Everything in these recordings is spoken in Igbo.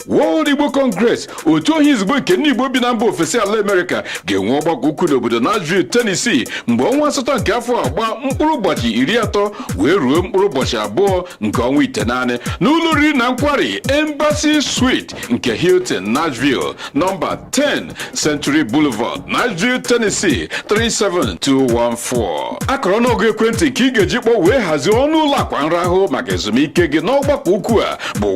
World Igbo Congress otu ọha izugbe nke ndị Igbo bi na mba ofesi ala Amerịka ga-enwe ọgbakọ ukwu n'obodo Nashville, Tennessee mgbe ọnwa asatọ nke afọ a gbaa mkpụrụ ụbọchị iri atọ wee ruo mkpụrụ ụbọchị abụọ nke ọnwa itenaanị n'ụlọ oriri na nkwari Embassy Suite nke Hilton Nashville nọmba 10 Century Boulevard, Nashville, Tennessee 37214. Akara ọnụọgụ ekwentị nke ị ga-eji kpọọ wee hazie ọnụ ụlọ akwa nrahụ maka ezumike gị n'ọgbakọ ukwu a bụ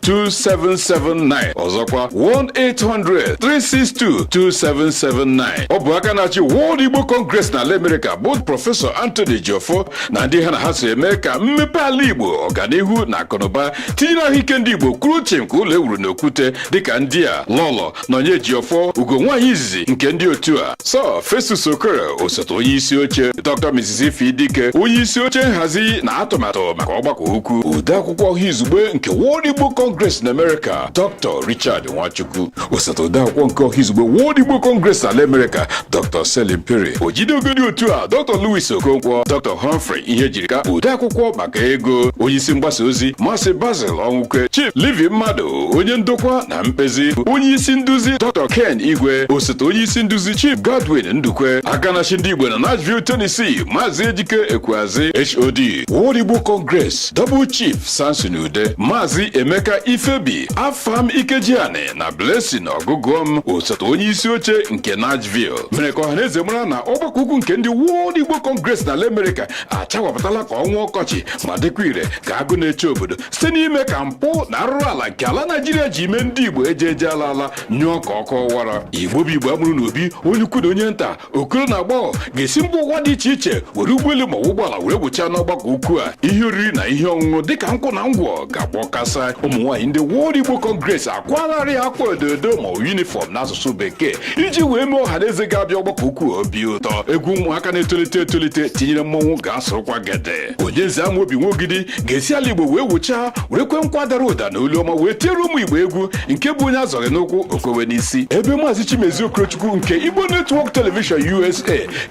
1-800-362-2779 ọzọkwa 1-800-362-2779 ọ bụ aka na-achị World Igbo Congress n'ala Amerịka bụ Prọfesọ Anthony Ejiofor na ndị ha na ha so eme ka mmepe ala Igbo ọganihu na akụnụba tinyere ahụike ndị Igbo kwụrụ chịm ka ụlọ ewuru n'okwute dịka ndị a Lọlọ Nonye Ejiofor ugo nwaanyị izizi nke ndị otu a Sir Festus Okere osote onye isi oche Dr. Mrs. Ify Dike onye isi oche nhazi na atụmatụ maka ọgbakọ ukwu odeakwụkwọ ọha izugbe nke World Igbo Congress na Amerịka Dr. Richard Nwachukwu osote odeakwụkwọ nke ọha izugbe World Igbo Congress n'ala Amerịka Dr. Selim Piri ojide ego ndị otu a Dr. Louis Okonkwo Dr. Humphrey Ihejirika odeakwụkwọ maka ego onyeisi mgbasa ozi Maazị Basil Ọnwụkwe Chief Livi Mmadụ onye ndokwa na mkpezi onyeisi nduzi Dr. Ken Igwe osote onyeisi nduzi Chief Godwin Ndukwe aka na-achị ndị Igbo na Nashville Tennessee Maazị Ejike Ekweazi HOD World Igbo Congress Double Chief Samson Ude Maazị Emeka Ifebi afam ikejiani na blessing ọgụgụọm osote onye isi oche nke nashville mere ka ọhaneze mara na ọgbakọ ukwu nke ndị world igbo congress na ala amerịka achawapụtala ka ọnwa ọkọchị ma dịkwa ire ka agụ na-eche obodo site n'ime ka mpụ na arụrụ ala nke ala naijiria ji mee ndị igbo eje eje ala ala nyụọ ka ọkụ ọwara igbo bụ igbo amụrụ n'obi onye ukwu na onye nta okoro na agbọghọ ga-esi mba ụwa dị iche iche were ụgbọelu ma ụgbọala were wụchaa n'ọgbakọ ukwu a ihe oriri na ihe ọṅụṅụ dịka nkwụ na ngwọ ga-agba kasaa ụmụ nwaanyị ndị World Igbo Congress akwaalarị akwa ododo ma yunifọm n'asụsụ bekee iji wee mee ọha na eze ga-abịa ọgbakọ ukwu a obi ụtọ egwu ụmụaka na-etolite etolite tinyere mmọnwụ ga-asụrụkwa gede onyenze amobi nwa ogidi ga-esi ala igbo wee wụchaa were kwee nkwa dara ụda na olu ọma wee tiere ụmụ igbo egwu nke bụ onye azọghị n'ụkwụ o kwewe n'isi ebe maazị chimezie okorochukwu nke igbo network television usa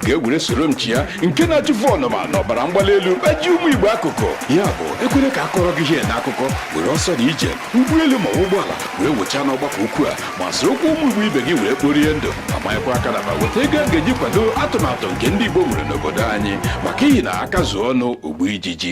ga-ewere soro m chịa nke na-achụfu ọnụma na ọbara mgbali elu kpaji ụmụ igbo akụkụ ya bụ ekwele ka a kọọrọ gị ihe na akụkọ were ọsọ na ije ụgbọelu ma ụgbọala wee wụchaa n'ọgbakọ ukwu a ma sorokwu ụmụ Igbo ibe gị wee kporie ndụ ma manyekwa aka n'akpa weta ego a ga-eji kwado atụmatụ nke ndị Igbo nwere n'obodo anyị maka ihi na aka zuo ọnụ o gbuo ijiji